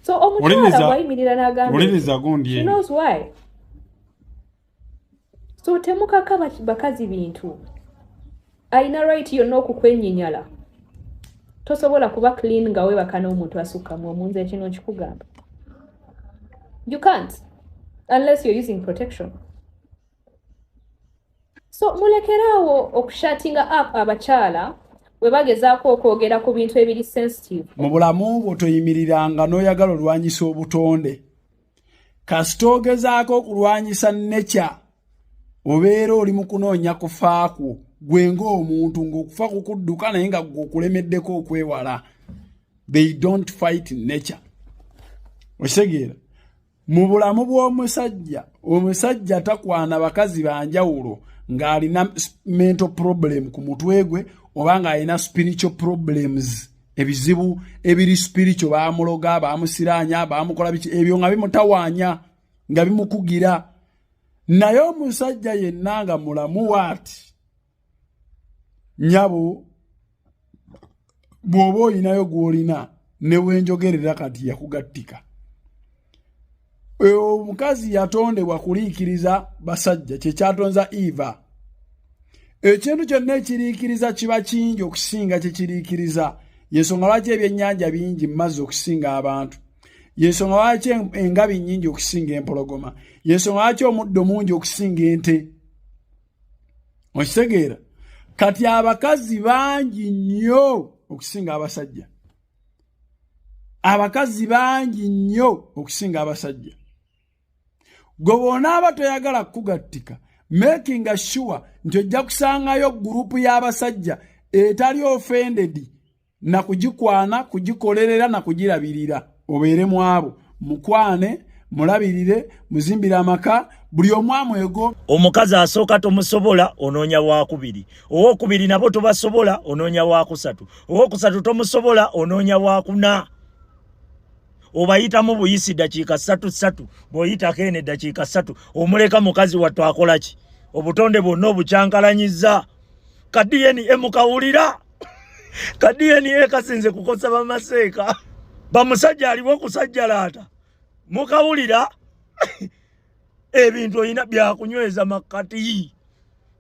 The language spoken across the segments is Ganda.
so omukyala bwayimirira nagambaolinizagundyenoswy so temukaka bakazi bintu alina right yonna okukwenyinyala tosobola kuba clean nga webaka n'omuntu asukkamu omunze kino nkikugamba you can't unless you're using protection so mulekeraawo okushatinga up abakyala bwe bagezaako okwogera ku bintu ebiri sensitive mu bulamu bwo toyimiriranga n'oyagala olwanyisa obutonde kasita ogezaako okulwanyisa nekya obeera oli mu kunoonya kufa kwo gwe ng'omuntu ng'okufa kukudduka naye nga gwe okulemeddeko okwewala they don't fight nature okitegeera mu bulamu bw'omusajja omusajja takwana bakazi banjawulo ng'alina mental problem ku mutwe gwe oba ng'alina spiritual problems ebizibu ebiri spiritual baamuloga baamusiraanya baamukola biki ebyo nga bimutawaanya nga bimukugira naye omusajja yenna nga mulamu waati nyabo bw'oba olinayo gw'olina ne bwenjogerera kati yakugattika omukazi yatondebwa kuliikiriza basajja kyekyatonza eva ekintu kyonna ekiriikiriza kiba kingi okusinga kyekiriikiriza yensonga lwaki ebyennyanja bingi mu mazzi okusinga abantu yensonga lwaki engabi nyingi okusinga empologoma yensonga lwaki omuddo mungi okusinga ente okitegeera kati abakazi bangi nnyo okusinga abasajja abakazi bangi nnyo okusinga abasajja gwe bwonaaba toyagala kukugattika makinga sure nti ojja kusangayo gurupu y'abasajja etali ofendedi na kugikwana kugikolerera na kugirabirira obeere mu abo mukwane mulabirire muzimbire amaka buli omu amwego omukazi asooka tomusobola onoonya wakubiri owokubiri nabo tobasobola onoonya wakusatu owokusatu tomusobola onoonya wakuna obayitamu buyisi dakiika satu satu bwoyitako ene dakiika satu omuleka mukazi wattu akolaki obutonde bwonna obukyankalanyiza ka dna mukawulira ka DNA kasinze kukosa bamaseeka bamusajja aliwo kusajjalaata mukawulira ebintu olina byakunyweza makkati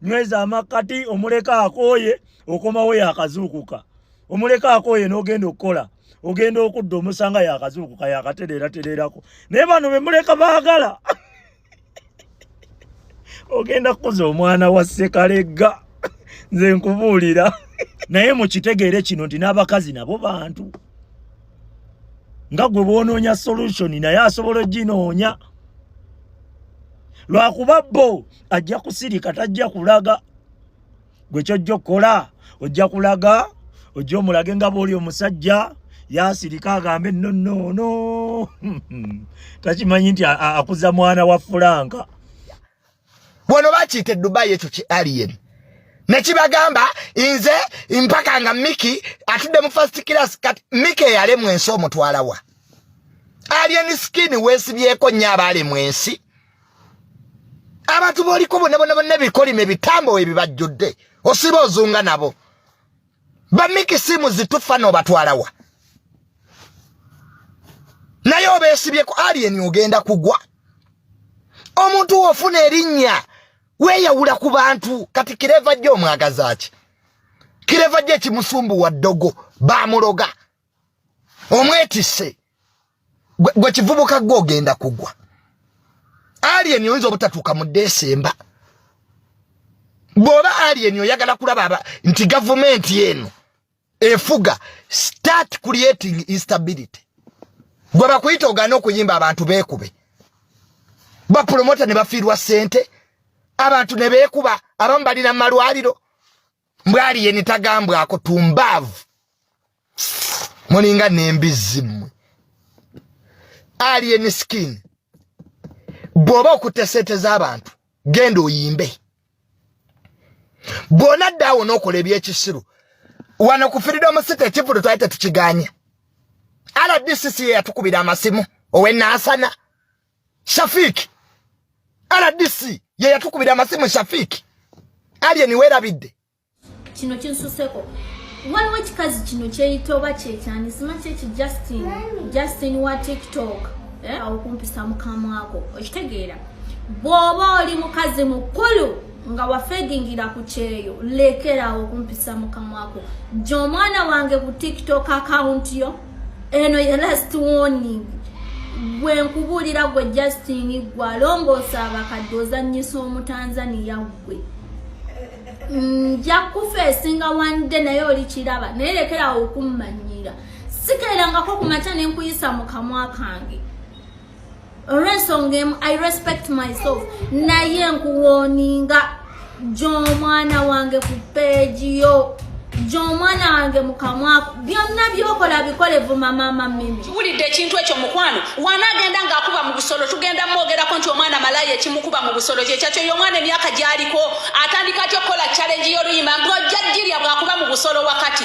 nyweza amakkati omuleka akooye okomawo yakazuukuka omuleka akooye n'ogenda okukola ogenda okudda omusanga yakazuukuka yakatereeratereerako naye bano bemuleka baagala ogenda kukuza omwana wa sekalegga nze nkubuulira naye mukitegeere kino nti n'abakazi nabo bantu nga gwe bwonoonya solution naye asobola oginoonya lwakuba bo ajja kusirika tajja kulaga gwe kyojja okukola ojja kulaga ojja omulage nga bwoli omusajja yasirika agambe nonono takimanyi nti akuza mwana wa fulanka bwono bakiyita edubayi ekyo ki aliyeri nekibagamba nze mpaka nga miki atudde mu first class kati miki eyalemwa ensi omutwalawa alien skin wesibyeko nyo abalemwa ensi abantu boliko bona bona bona ebikolimo ebitambo ebibajjudde osiba ozunga nabo bamiki simu zitufa nobatwalawa naye obesibyeko alien ogenda kugwa omuntu wofuna erinnya weyawula ku bantu kati kireva jjo omwagazaaki kireva jjo ekimusumbuwa ddogo bamuloga omwetisse gwe kivubuka gwe ogenda kugwa alien oyinza obutatuuka mu desemba bw'oba alien oyagala kulaba nti gavumenti eno efuga start creating instability gwe bakuyita ogaana okuyimba abantu beekube bapulomota ne bafiirwa ssente abantu ne beekuba abamu balina mu malwaliro mbwali yeni tagambwa ako tumbavu mulinga nembizi mwe alien skin bwoba okute sente zabantu genda oyimbe bwona ddawo nokola ebyekisiru wano ku freedom city ekivulu twali tetukiganye rdcc yeyatukubira amasimu owenasana Shafiki RDC ye yatukubira amasimu Shafiki Alien werabidde kino kinsuseko waliwo ekikazi kino kyeyita oba kyekyani simakyo eki Justin Justin wa TikTok eh? awo kumpisa mukamwako okitegeera bw'oba oli mukazi mukulu nga wafegingira ku kyeyo lekerawo kumpisa mukamwako gye omwana wange ku TikTok akawunti yo eno ye last warning gwe nkubuulira gwe justin gwe alongoosa abakadde ozanyisa omutanzaniya gwe nja kufa esinga wande naye oli kiraba naye lekerawo okummanyira sikeerangako ku makya ne nkuyisa mu kamwa kange olw'ensonga emu i respect myself naye nkuwoninga gy'omwana wange ku peegi yo gy'omwana wange mukamwaku byonna byokola bikole vuma maama mimi kiwulidde ekintu ekyo mukwano wana agenda ng'akuba mu busolo tugenda mwogerako nti omwana malaya ekimukuba mu busolo kyekyakyo yo omwana emyaka gyaliko atandika atya okukola challenge y'oluyimba ng'ojja jirya bw'akuba mu busolo wakati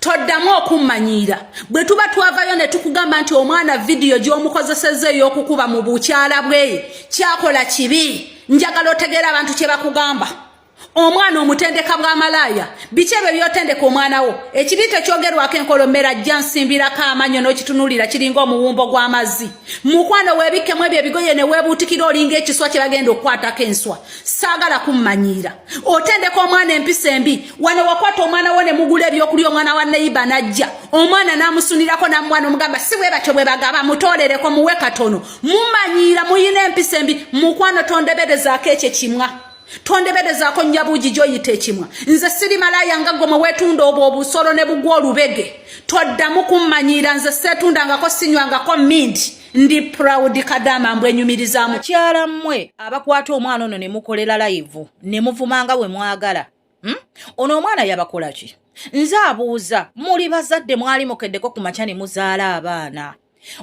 toddamu okummanyiira bwe tuba twavayo ne tukugamba nti omwana vidiyo gy'omukozesezza ey'okukuba mu bukyala bwe kyakola kibi njagala otegeera abantu kye bakugamba omwana omutendeka bwa malaaya biki ebyo byotendeka omwana wo ekibi tekyogerwako enkolomera ajja nsimbirako amanyo n'okitunulira kiringa omuwumbo gw'amazzi mukwano weebikkemu ebyo ebigoye ne weebuutikira olinga ekiswa kye bagenda okukwatako enswa saagala kummanyiira otendeka omwana empisa embi wano wakwata omwana wo ne mugula ebyokulya omwana wa neyiba najja omwana namusunirako namwana omugamba si bwe batyo bwe bagaba mutolereko muwe katono mumanyiira muyina empisa embi mukwano tondeberezaako ekyo kimwa tondeberezaako nyabuugi gyoyita ekimwa nze siri malaaya nga gwe mwewetunda obwo obusolo ne bugwa olubege toddamu kummanyiira nze seetundangako sinywangako minti ndi proud kadama mbwe nyumiriza mukyala mmwe abakwata omwana ono ne mukolela live ne muvumanga we mwagala hmm? ono omwana yabakola ki nze abuuza muli bazadde mwali mukeddeko ku makya ne muzaala abaana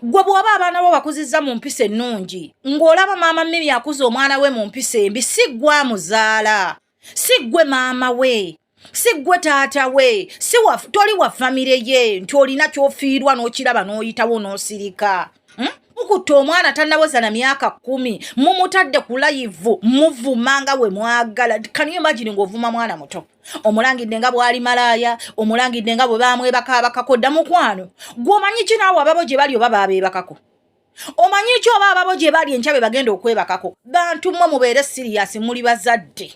gwe bw'oba abaana bo bakuzizza mu mpisa ennungi ng'olaba maama mimi akuza omwana we mu mpisa embi si gwa muzaala si ggwe maama we si ggwe taata we si toli wa famire ye nti olina kyofiirwa n'okiraba n'oyitawo n'osirika hmm? mukutte omwana tanawoza na myaka kumi mumutadde ku layivu muvuma nga we mwagala kaniyo imagine ng'ovuma mwana muto omulangidde nga bwali malaaya omulangidde nga bwe bamwebaka abakako dda mukwano gwomanyi ki naawe ababo gye bali oba babeebakako omanyi ki oba ababo gye bali enkya be bagenda okwebakako bantu mmwe mubeere siriyasi muli bazadde